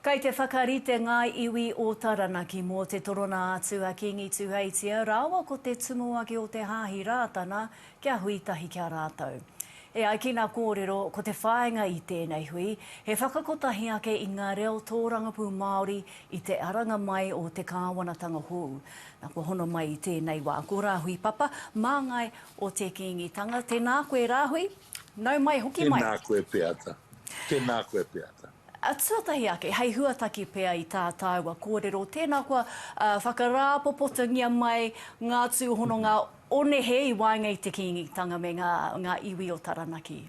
Kei te whakarite ngā iwi o Taranaki mō te torona atu a Kīngi Tuheitia rāua ko te Tumuaki o te Hāhi Rātana kia hui tahi ki a rātou. E ai ki ngā kōrero, ko te whāinga i tēnei hui, he whakakotahi ake i ngā reo tōrangapū Māori i te aranga mai o te kāwanatanga hou. Nā, kua hono mai i tēnei wā, ko Rāhui Papa, māngai o te Kīngitanga. Tēnā koe, Rāhui. Nau mai, hoki mai. Tēnā koe Peata. Tēnā koe Peata. Tuatahi ake, hei huataki pea i tā tāua kōrero, tēnā koa whakarāpopotangia mai ngā tūhononga o nehe i waenga i te Kīngitanga me ngā iwi o Taranaki.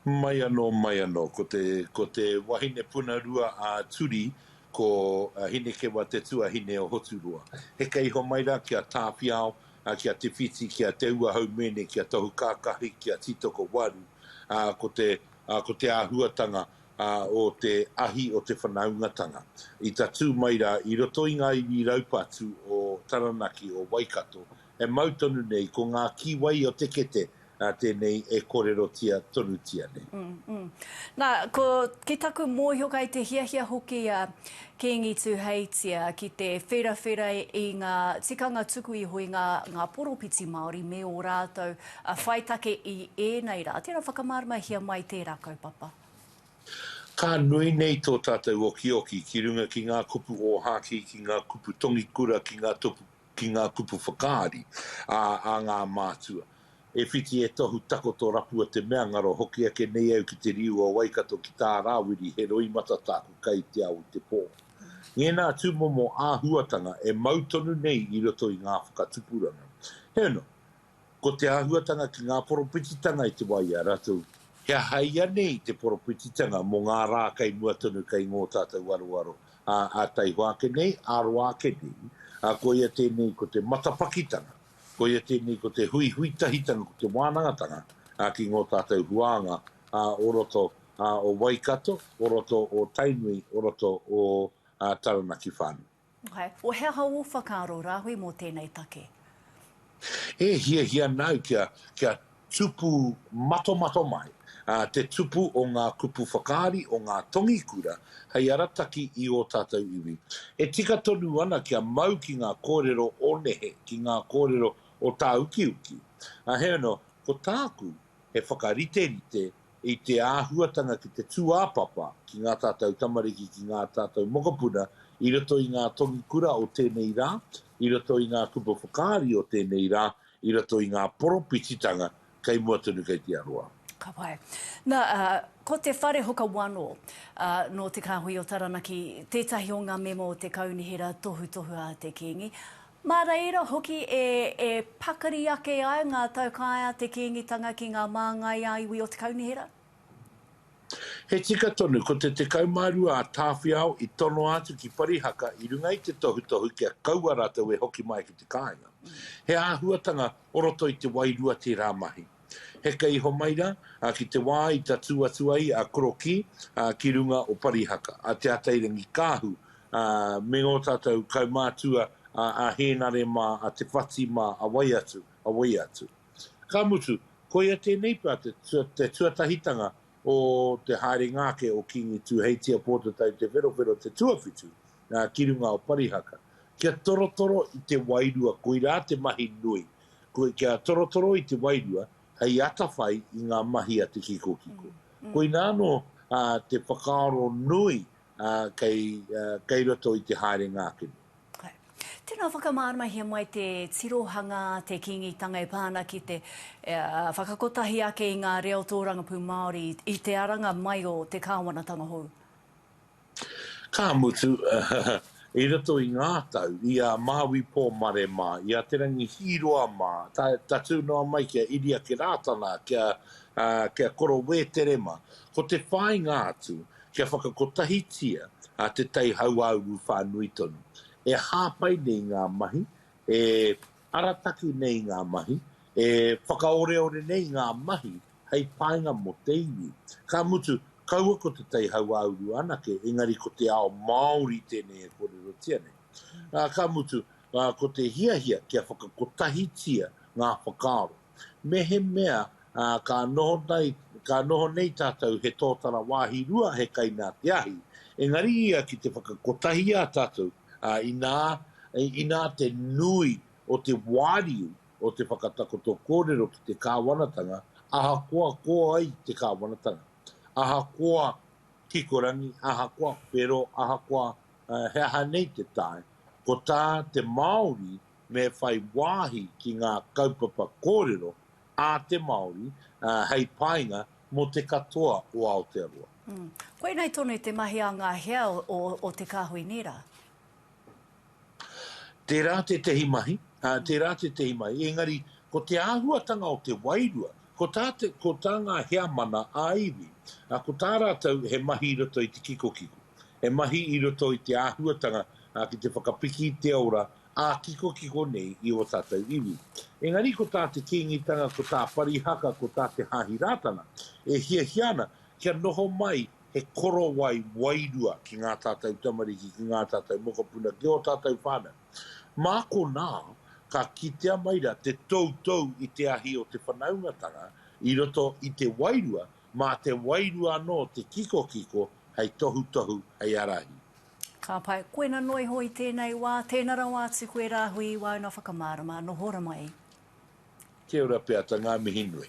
Mai anō, mai anō. Ko te wahine puna rua a Turi, ko Hinekewa te tuahine o Hoturoa. Heke iho mai rā ki a Tāwhiao, a ki a Te Whiti, ki a Te Ua Haumēne, ki a Tohu Kākahi, ki a Tītoko Waru, ā, ko te, ā, ko te āhuatanga, ā, o te ahi o te whanaungatanga. I tatū mai rā, i roto i ngā iwi raupatu o Taranaki, o Waikato, e mau tonu nei, ko ngā kīwai o te kete, nā tēnei e kōrerotia tonutia nei. Nā, ko, ki taku mōhio kai te hiahia hoki a Kīngi Tūheitia ki te wherawhera i ngā tikanga tuku iho i ngā, ngā poropiti Māori me ō rātou whai take i ēnei rā. Tērā whakamāramahia mai tērā kaupapa. Ka nui nei tō tātou okioki ki runga ki ngā kupu ōhākī, ki ngā kupu tongikura, ki ngā ki ngā kupu whakaari a a ngā mātua. E whiti e tohu takoto rapua te mea ngaro hoki ake nei au ki te riu o Waikato ki tā Rāwiri he roimata tāku kai te ao i te pō. Ngēnā tūmomo āhuatanga e mau tonu nei i roto i ngā whakatupuranga. Heoi anō. Ko te āhuatanga ki ngā poropititanga i te wā i a rātou, he aha ianei te poropititanga mō ngā rā kei mua tonu kei ngō tātou aroaro ā taihoa ake nei, ā roa ake nei, ā, koia tēnei ko te matapakitanga, koia tēnei ko te huihui tahitanga, ko te wānangatanga ki ngō tātou huānga o roto o Waikato, o roto o Tainui, o roto o Taranaki whānui. O he aha ō whakaaro rāhui mō tēnei take? E hiahia ana au kia, kia tupu matomato mai te tupu o ngā kupu whakaari o ngā tongi kura hei arataki i ō tātou iwi. E tika tonu ana kia mau ki ngā kōrero o nehe, ki ngā kōrero o tāukiuki. Heoi anō, ko tāku, he whakariterite i te āhuatanga ki te tūāpapa ki ngā tātou tamariki, ki ngā tātou mokopuna i roto i ngā tongi kura o tēnei rā, i roto i ngā kupu whakaari o tēnei rā, i roto i ngā poropititanga kei mua tonu kei te aroā. Ka pai. Na, ko Te Whare Huka Wano, nō Te Kāhui o Taranaki, tētahi o ngā mema o te Kaunihera Tohutohu a te Kīngi. Mā reira hoki e e pakari ake ai ngā taukāe a te Kīngitanga ki ngā māngai a iwi o Te Kaunihera. He tika tonu, ko te 12 a Tāwhiao i tonoa atu ki Parihaka i runga i te tohutohu kia kaua rātou e hoki mai ki te kāinga. He āhuatanga o roto i te wairua tērā mahi. Heke iho mai ra, a ki te wā i tatū atu ai a Korokī, a ki runga o Parihaka, a Te Atairangi-kāhu, a me ngō tātou kaumātua, a a Hēnare mā, a Te Whati mā, a wai atu, a wai atu. Ka mutu, koia tēnei pea te te tuatahitanga o te haerenga ake o Kīngi Tūheitia Pōtatau Te Wherowhero te tuawhitu, a ki runga o Parihaka. Kia torotoro i te wairua koirā te mahi nui, Koe kia torotoro i te wairua hei atawhai i ngā mahi a te kikokiko. Koina anō te whakaaro nui kei roto i te haere ngākene. Tēnā, whakamāramahia mai te tirohanga, te Kīngitanga e pā ana ki te whakakotahi ake i ngā reo tōrangapū Māori i te aranga mai o te kāwanatanga hou. Ka mutu, i roto i ngā tau, i a Māui Pōmare mā, i a Te Rangi Hīroa mā, tatū noa mai ki a Iriaki Rātana, ki a Koro Wētere mā, ko te whāinga atu kia whakakotahitia te tai hauāuru whānui tonu. E hāpai nei ngā mahi, e. Arataki nei ngā mahi, e whakaoreore nei ngā mahi hei painga mō te iwi. Ka mutu, kaua ko te tai hauāuru anake, engari ko te ao Māori tēnei e kōrerotia nei. Ā, ka mutu, ko te hiahia kia whakakotahitia ngā whakaaro. Mehemea ka noho nei, ka noho nei tātou he tōtara wāhi rua he kai nā te ahi, engari ia ki te whakakotahi i a tātou ā, inā, inā te nui o te wāriu o te whakatakoto kōrero ki te kāwanatanga, ahakoa ko ai te kāwanatanga, ahakoa kikorangi, ahakoa whero, ahakoa he aha nei te tae, ko tā te Māori me whai wāhi ki ngā kaupapa kōrero a te Māori hei painga Mō te katoa o Aotearoa. Koinei tonu te mahi a ngā hea o Te Kāhui Nīra. Tērā tētehi mahi, tērā tētehi mahi, engari ko te āhuatanga o te wairua, ko tā te, ko tā ngā heamana ā-iwi, ko tā rātou he mahi i roto i te kikokiko, he mahi i roto i te āhuatanga ki te whakapiki i te ora ā-kikokiko nei i ō tātou iwi. Engari ko tā te Kīngitanga, ko tā Parihaka, ko tā te Hāhi Rātana, e hiahia ana kia noho mai he korowai wairua ki ngā tātou tamariki, ki ngā tātou mokopuna, ki ō tātou whānau. Mā konā, ka kitea mai rā te toutou i te ahi o te whanaungatanga i roto i te wairua, mā te wairua anō te kikokiko hei tohutohu, hei ārahi. Ka pai. Koina noa iho i tēnei wā, tēna rawa atu koe rāhui i wāuna whakamārama. Noho ra mai. Kia ora pea ta nga mihi nui.